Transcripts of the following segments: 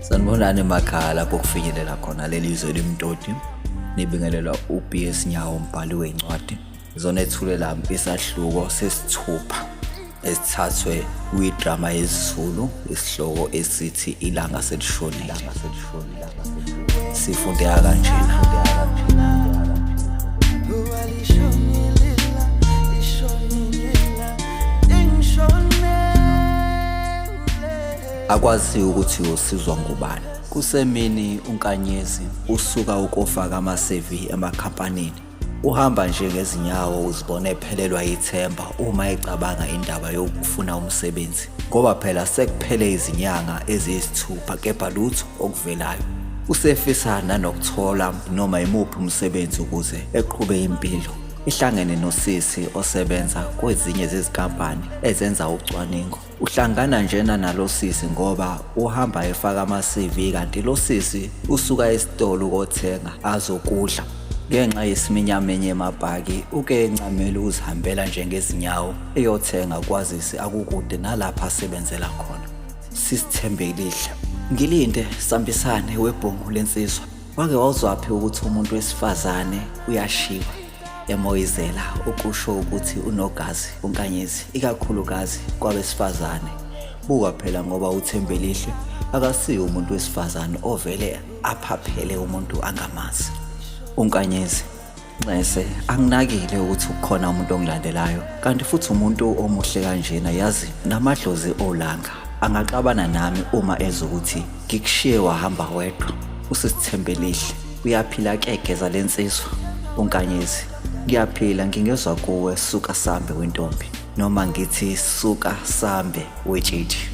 sanibonani emakhaya lapho kufinyelela khona leli zwe limtoti nibingelelwa ubs nyawo mbhali wencwadi zona ethulela isahluko sesithupha esithathwe kwidrama yesiZulu isihloko esithi ilanga selishonile sifundeka kanjena akwazi ukuthi usizwa ngubani kusemini unkanyezi usuka ukofaka amasevi emakhampanini Uhamba nje ngezinyawo uzibona ephelelwa ithemba uma ecabanga indaba yokufuna umsebenzi ngoba phela sekuphele izinyanga eziyisithupha kepha lutho okuvelayo. Usefisa nanokuthola noma yimuphi umsebenzi ukuze eqhube impilo. Ihlangene nosisi osebenza kwezinye zezikampani ezenza ucwaningo. Uhlangana njena nalo sisi ngoba uhamba efaka ama-CV kanti lo sisi usuka esitolo ukothenga azokudla. Ngenxa yesiminyamenye emabhaki uke encamele ukuzihambela njengezinyawo eyothenga kwazise akukude nalapha asebenzela khona. Sisithembelihle. Ngilinde sambisane webhungu lensizwa. Wake wawuzwaphi ukuthi umuntu wesifazane uyashiwa? emoyizela ukusho ukuthi unogazi unkanyezi ikakhulukazi kwabesifazane buka phela ngoba uthembelihle akasiyi umuntu wesifazane ovele aphaphele umuntu angamazi unkanyezi nxese anginakile ukuthi ukhona umuntu ongilandelayo kanti futhi umuntu omuhle kanjena yazi namadlozi olanga angaxabana nami uma ezokuthi ngikushiye wahamba wedwa usisithembelihle Uyaphila ke geza lensizwa uNkanyezi. Ngiyaphila ngingezwa kuwe suka sambe wentombi noma ngithi suka sambe wetshitshi.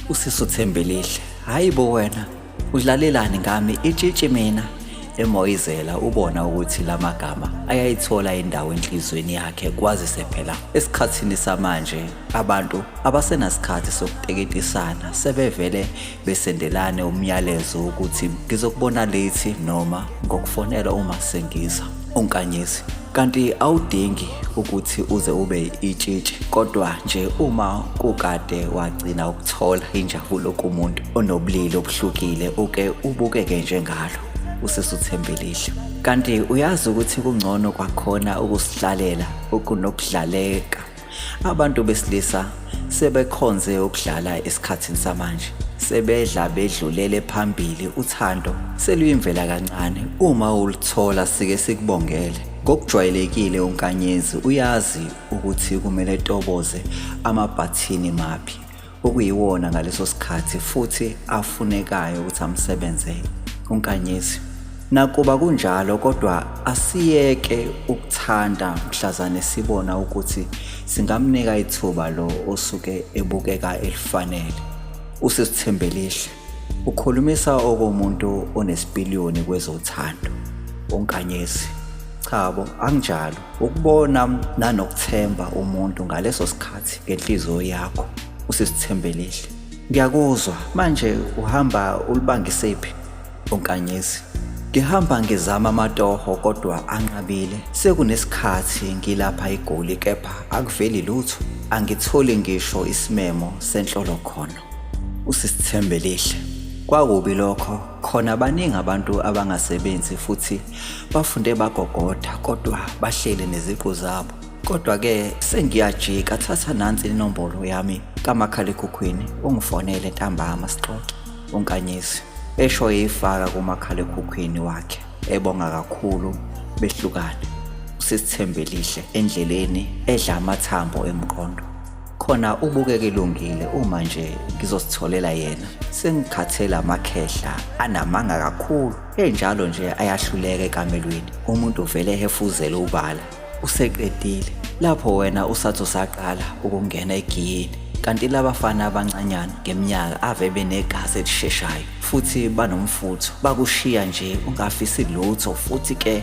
Usiso Thembelihle. Hayi bo wena udlalelani ngami itshitshi mina emoyizela ubona ukuthi lamagama ayayithola indawo enhlizweni yakhe kwazise phela esikhathini samanje abantu abasenasikhathi sokuteketisana sebevele besendelane umyalezo wokuthi ngizokubona late noma ngokufonela uma sengiza unkanyezi kanti awudingi ukuthi uze ube itshitshi kodwa nje uma kukade wagcina ukuthola injabulo kumuntu onobulili obuhlukile uke ubukeke njengalo usesuthembelihle kanti uyazi ukuthi kungcono kwakhona ukusihlalela ukunokudlaleka Abantu besilisa sebekhonze ukudlala esikhathini samanje. Sebedla bedlulele phambili uthando seluyimvela kancane uma ulithola sike sikubongele. Ngokujwayelekile uNkanyezi uyazi ukuthi kumele toboze amabhathini maphi okuyiwona ngaleso sikhathi futhi afunekayo ukuthi amsebenzele uNkanyezi. Nakuba kunjalo kodwa asiyeke ukuthanda mhlazane sibona ukuthi singamnika ithuba lo osuke ebukeka elifanele. Usesithembelihle Ukhulumisa okomuntu onesipiliyoni kwezothando, onkanyezi. Cha bo, anginjalo. Ukubona nanokuthemba umuntu ngaleso sikhathi ngenhliziyo yakho usisithembelile. Ngiyakuzwa, manje uhamba ulibangisephi onkanyezi? Ngihamba ngizama amatoho kodwa anqabile. Sekunesikhathi ngilapha eGoli kepha akuveli lutho. Angitholi ngisho isimemo senhlolo khona. usisithembe lihle kwakubi lokho khona baningi abantu abangasebenzi futhi bafunde bagogoda kodwa bahlele neziqu zabo kodwa-ke sengiyajika thatha nansi inombolo yami kamakhalekhukhwini ungifonele ntambama sixoxe unkanyisi esho eyifaka kumakhalekhukhwini wakhe ebonga kakhulu behlukane usisithembe lihle endleleni edla amathambo emqondo khona ubukeka elungile uma nje ngizositholela yena sengikhathela amakhehla anamanga kakhulu enjalo nje ayahluleka ekamelweni umuntu vele ehefuzele ubala useqedile lapho wena usathi usaqala ukungena egiyini kanti labafana abancanyana ngeminyaka ave benegazi elisheshayo futhi banomfutho bakushiya nje ungafisi lutho futhi ke